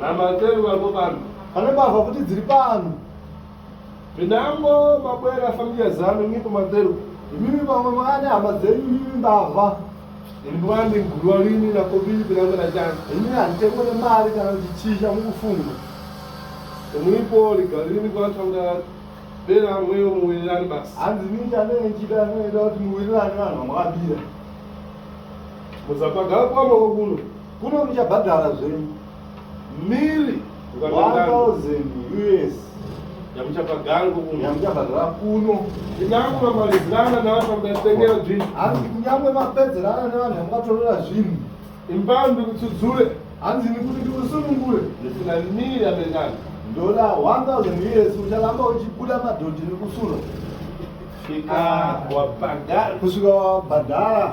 Namateu vako pano. Pane mbavha kuti dziri pano. Pinango mabwera familia zano ngipo mateu. Imimi pamwe mwaane hama dzenyu imimi mbavha. Ndimwani nguruwa lini na kobili pinango na chana. Imimi handitengwe nemari kana kuti chii chamukufunga. Imwipo ligalini kwatanga bera mweyo muwirirani basi. Hanzi inini chandenge ndichida anoenda kuti muwirirani vanhu vamwabira. Muzapagara kwamoko kuno. Kuno muchabhadhara zvenyu miri 1000 us yamuchapagango kuno yamuchabhadhara kuno kunyange mamalizirana navanhu vamudatengera zvinhu hanzi kunyange mapedzerana nevanhu vamukatorera zvinhu imbambi kutsudzure hanzi nikuti ndikusunungure ndisina miri amerikani ndoda 1000 years ucharamba uchibuda madhodhi nekusura kusvika wabhadhara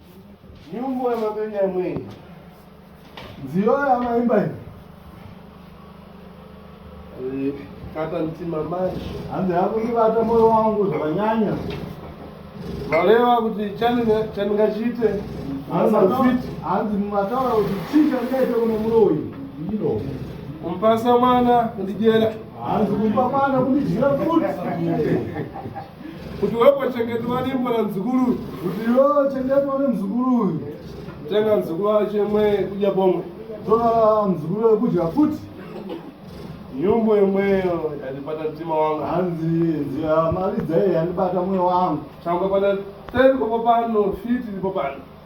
Nyumbu yamapenya imweni. Nziyo yamaimba iyi. Eh, kata mtima manje. Hanzi yakundibata moyo wangu zvakanyanya. Vareva kuti chandingachiite hanzi mataura kuti chii chandingaite kune muroyi ndiro kumpasa mwana kundidyera hanzi kumpa mwana kundidyira futi kuti wepo chengetwa limbo la mzukulu kuti yo chengetwa ne mzukulu uyu tenga mzukulu wache mwe kudya pomwe tola mzukulu wekudya futi nyumbo imweyo yandibata mtima wangu hanzi nziya mari dzaiye yandibata mwoyo wangu changwa pana teri kopo pano fiti lipo pano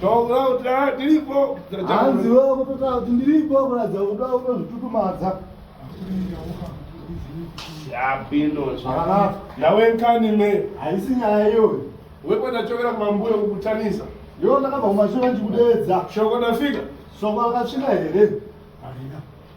Taura kuti ah, tiripo. Hanzi wewe kutotaura kuti ndiripo kuratidza kuti unozvitutumadza. Yapino zvakanaka. Nawe nkani me. Haisi nyaya iyoyo. Wewe kwenda chokera kumambuya kukutanisa. Yo ndakabva kumashura ndikudeedza. Shoko ndafika. Shoko akasvika here? Haina.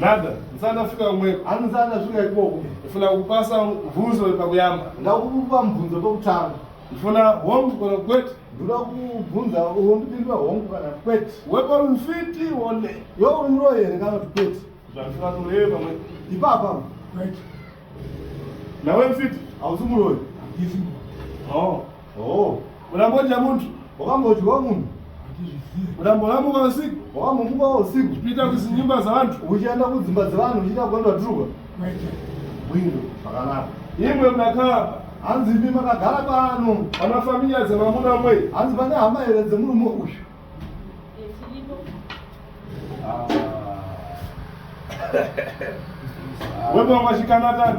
Nada, msana fika umwe. Ani msana fika ikoko. Ndifuna kukupasa mvunzo pakuyamba. Ndakukupa mvunzo pakutanga. Ndifuna hongu kana kwete. Ndoda kukubvunza wondipindura hongu kana kwete. Wepa rufiti wone. Yo unro here kana kuti kwete. Zvandifuna kureva pamwe. Ipapa kwete. Nawe mfiti hausi muroyi. Ndisi. Oh. Oh, unambodya muntu? Wakambodyiwa munhu? Unamboramuka usiku? Wakambomuka usiku? Kupita kuzinyumba dzavanhu? Uchienda kudzimba dzevanhu uchiita kuenda turuka? Windo, zvakanaka. Imwe mnakaa hanzi imi makagara pano pana familia dzemamuna mwe hanzi pane hama here dzemurume uyu ah. wemwe wamashikana tani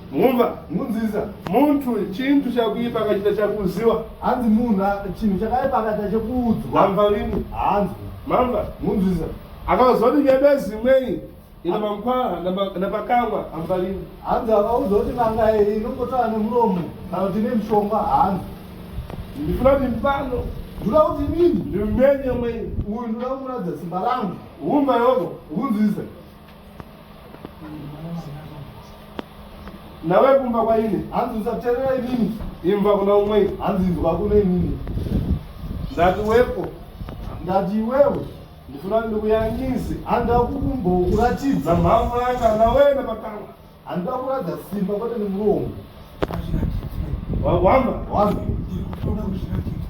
Mumva, munziza, muntu chintu chakuipa akachita chakuziwa. Hanzi munhu chinhu chakaipa akaita chekuudzwa. Mamva lini? Hanzi. Mamva, munziza. Akauzwa kuti nyadezi imweni ina mankwara na pakamwa amva lini? Hanzi akauzwa kuti n'anga iyi inongotaura nemuromo kana kuti ine mishonga hanzi. Ndifuna kuti mpano. Ndoda kuti nini? Ndimenye mwenye. Uyu ndoda kumuratidza simba langu. Humba yoko, munziza. nawe kumba kwaine hanzi usaterera inini imva kuna umwe hanzi inzwa kune inini ndati wepo ndati iwewe ndifuna kuti ndikuyangise handakukumbokuratidza mhamha kana wena pakanwa Handida kuratidza simba kwete nemuromo. Wamba? Wamba. Ndikufuna kuzviratidza.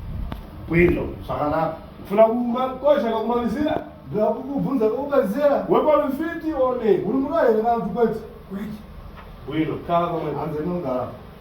Kwendo, zvakanaka. Funa kuma kosha kwa kumamisira? Ndira kukubvunza kwa kukazira. Wepa mfiti one. Uri murayi kana kuti kwete? Kwete. Kwendo, kala kwa mwe. Anze nongara.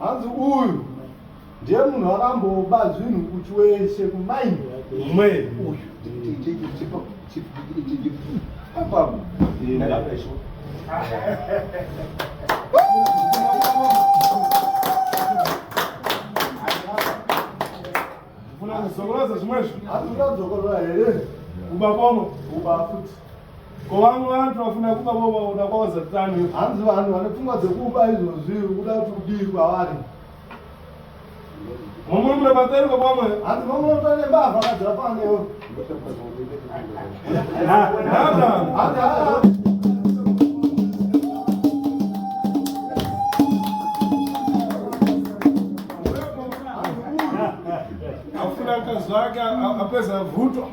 hanzi uyu ndiye munhu akamboba zvinhu kuchi wese kumaini mwe uyu Unazokolaza zvimwezvo? Hazvina dzokorora here? Uba kono, uba futi. Ko vamwe vanhu vafuna kuba vovaona kwavaza kutani. Hanzi vanhu vane pfungwa dzekuba izvozvi kuda kuti kudii kwavari. Mumwe mune materi kwa pamwe. Hanzi mumwe mutane mbavha kadzira panewo. Ha, ha, ha, ha. Afuna kazwaka apeza vuto.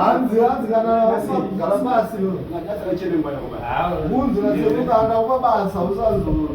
hanzi hanzi kana gara pasi unzira sekuti anda kupa basa usazora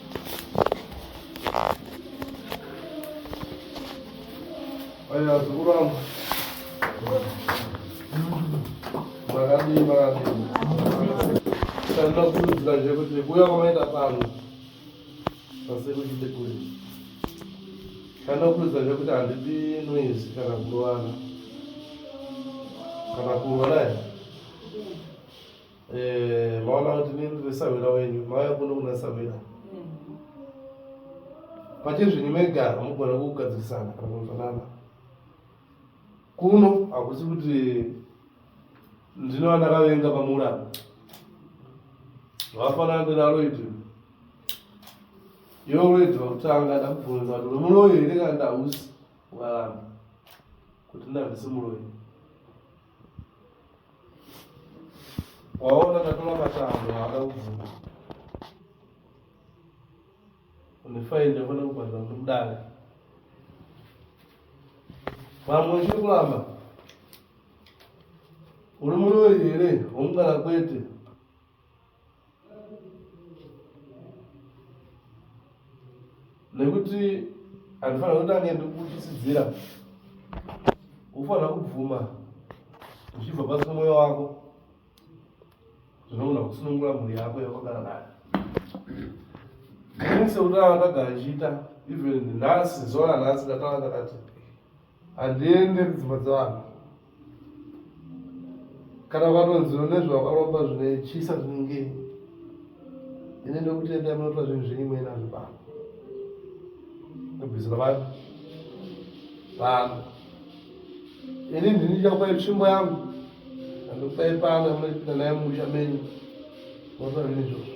Aya zikuramba. Makadii makadii. Saka ndinokurudzira nje kuti kuuya kwamaita pano pasekuchite kuri. Saka ndinokurudzira nje kuti handidi noise kana kurovana. Kana kurovana here? Eh, maona kuti nini ndiri sahwira wenyu mauya kuno kuna sahwira pachezvenyu mega hamugona kugadzirisana kana kunzwanana kuno hakusi kuti ndinowana kavenga pamurama vafanana ndinaloiti yo loiti vakutanga ndakubvunza kuti muroyi here kana ndausi ukaramba kuti ndandisi muroyi Waona ndatola matambo haada kubvuma. Unifai ndafana kubhadhara kuti mudare. Vamwe chiri kuramba. Uri muroyi here? Womugara kwete. nekuti handifanira kuti ange ndikutyisidzira ufanira kubvuma zvichibva pasi pemwoyo wako zvinogona kusunungura mhuri yako yakagara nayo ini seutano ndagara ndichiita even nhasi zuva ranhasi ndataura ndakati Handiende kudzimba dzevanhu kana vanonzi nezvavaromba zvinechisa zvinenge ini ndokutenda munotora zvinhu zvenyu muina zvibano nobvisa vanhu vanhu ini ndini chakwai tsvimbo yangu andopai pano amunoipinda naye mumusha menyu motora zvinhu izvozvo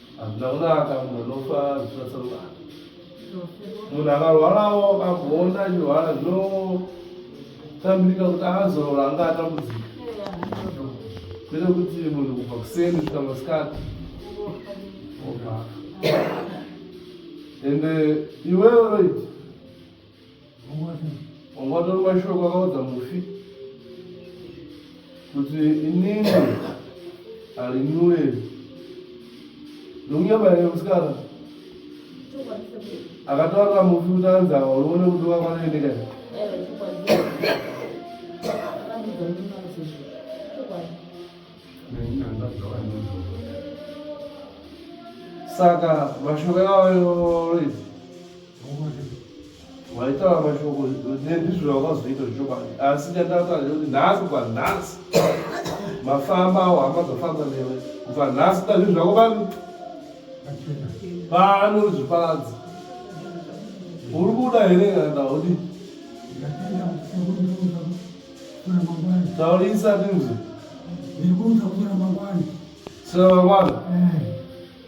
Handina kunaka munhu anofa zvisatsarukana. Munhu akarwarawo akagoona achirwara zvinotambirika kuti akazorora anga atambudzika. Kwete kuti munhu kubva kuseni kusvika masikati. Obva. Ende iwewe roiti wakatora mashoko akaudza mufi kuti inini harinyuwe nokunyama here musikana akataurira mufi kuti anzi awa unoone kuti wakwanoendeka saka mashoko yavo yoroizi waitaura mashoko ndizvo zvawakazoita zvechokwadi asi chandataura kuti nhasi kubva nhasi mafamba awo hamazofamba newe kubva nhasi ta zvinhu zvako vanu pano zviparadzi uri kuda here kandaudi taurisa tinzi sira mangwana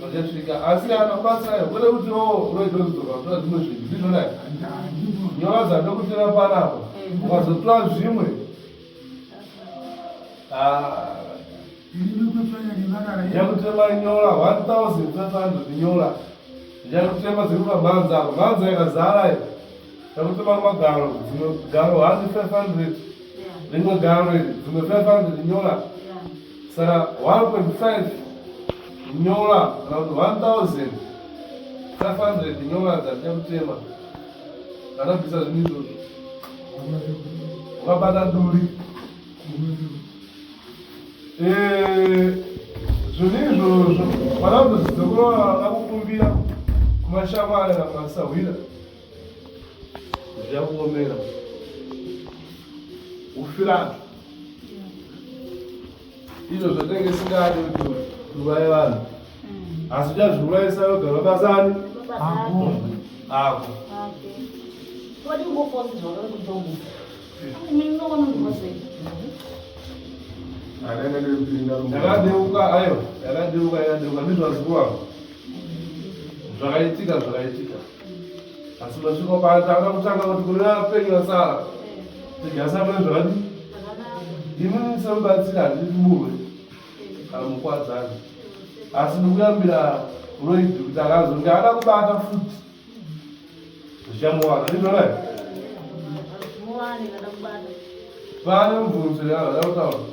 Vachasvika asi kana basa vode kuti wo unoita kuzova kutora zvimwe zvinhu ndizvo naye nyora dzada kutora panapa ukazotora zvimwe yakutema nyora 1500 nyora yakutema dziri pamhanza apo mhanza yakazara iyo yakutema magaro dzimwe garo handi 500 rimwe garo iri dzimwe 500 nyora saka 1.5 nyora kana kuti 1500 nyora dzatida kutema anabvisa zvinhu izvozvo ukabata duri eh, zvinhu izvozvo vana kudzidza kurova vakakukumbira kumashamwari kana kumasahwira zvakuomera ufiratu izvo zvatange singadi kuti tuvaye vanhu mm. asi uchazviurayisa yoga mabasa ani ako ndakadeuka ayo ndakadeuka ndakadeuka ndizvazikuwako zvakaitika zvakaitika asi masviko paatanga kutanga kuti kune vapenyu vasara tigasamune zvani imi musamubatsira handii murume kana mukwadzani asi ndikuyambira unoibvi kuti akazonge ada kubata futi zvichamuwana ndizvonai pane mubvunzo yavo ada kutaura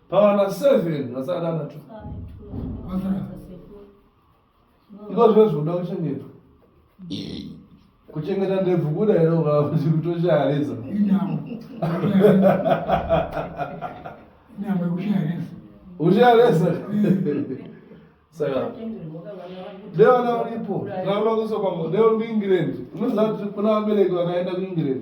Pavana 7 vasadana tu. Iko zvino zvinoda kuchengetwa. Kuchengeta ndebvu kuda here ukava kuti kutoshaharisa. Ushaharisa. Saka leo ana ulipo, naona kusokwamo leo ndi England. Unozati kuna vabereki vakaenda ku England.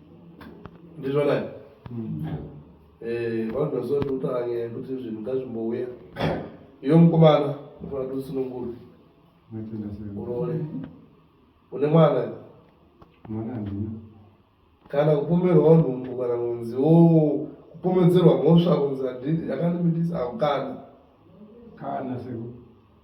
ndizvo nani mm. eh, vanoda so totanya yekuti zvinhu ngazvimbouya iyo mukomana unotoda kuti usunungurwe uroore une mwana mwana andina kana kupomerwa nhumbu kana kunzi wo kupomedzerwa mhosva kunzi handidi yakanimidisa aukana kana seku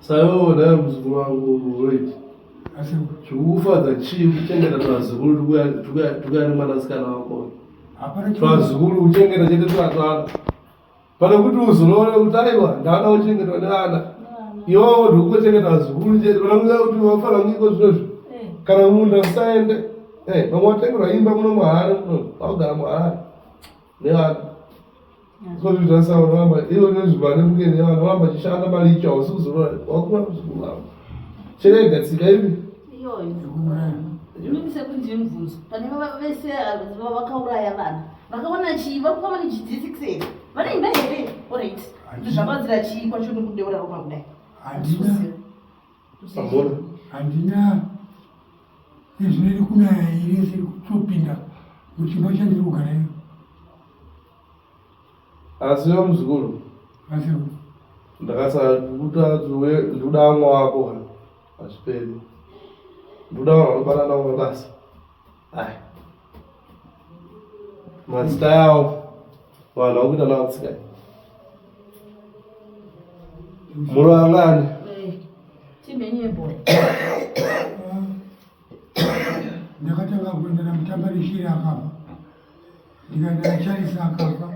Sayo dai muzukuru wangu Royd. Asi chikufadza chii kuchengeta twazukuru tukuya tukuya tukuya nemwanasikana wako. Hapana twazukuru kuchengeta chete twatwana. Pane kuti uzorore kuti aiwa ndaona kuchengetwa nevana. Iwo ndikuchengeta vazukuru chete vanokuya kuti vafana ngiko zvinozvi. Eh. Kana munda usaende. Eh, vamwe vatengerwa imba muno muHarare muno. Vakugara muHarare. kozvitasauramba ivo nezvibane mukeni vanhu vamba chishanda mari icho hausi kuzorora wakura kuzikuramba chirega tsika ivi ndinobvunzo pane vese vakauraya vanhu vakaona chii vakukama nechidzisi kuseri vanoimba here orit ndizvabatsira chii kwacho nokudeura ropa kudai pabhora handina izwi riri kunaya iri riri kutopinda muchimba chandiri kugara iyo asi vamuzukuru asi ndakasa kukuta zuwe ndikuda vamwe wako hazviperi ndikuda vanhu vanobatana vamwe basa mazita yawo vanhu vakuita navatsika muroangani ndakatanga kuenda namutamba neshiri akafa ndikaenda nacharisa akafa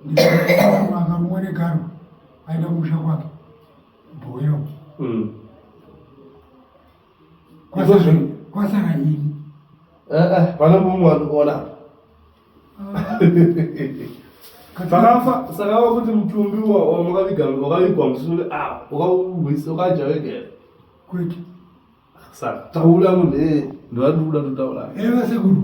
ndikaakamuwa negaro aenda kumusha kwake bhoyo mm. Kwasara kwasara yini? Eh eh pana mumu wandikuona. Sakafa sakafa kuti mutumbi wamakaviga wakavigwa musure ah wakauhwisa ukaja wegere. Kwete. Saka taula munhu eh ndovadi kuda totaura. Eh vasekuru.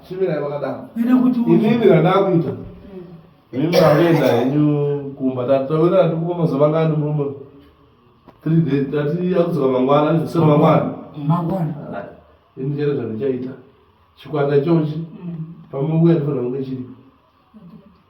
Sumirai vakadaro. Enda kuti uti. Inini radakuita. Mimi mavenda henyu kumba tatawira tikupa mazuva ngani murume. Three days tati yakudzoka mangwana ndizosira mangwana. Mangwana. Ini chero zvandichaita. Chikwata chochi. Pamwe uya ndifanira kunge chiripo.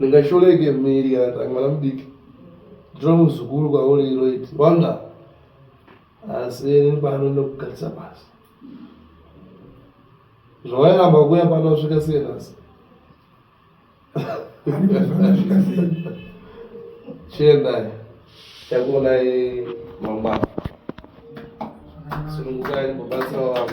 ndingashoreke miri kana kuti mwana mudiki ndiro muzukuru kwauri iroiti wanga asi ini pano ndinokugarisa pasi zvawairamba kuya pano wasvika sei nhasi chiendai chakuonai mangwana sunungukai mubatsira wangu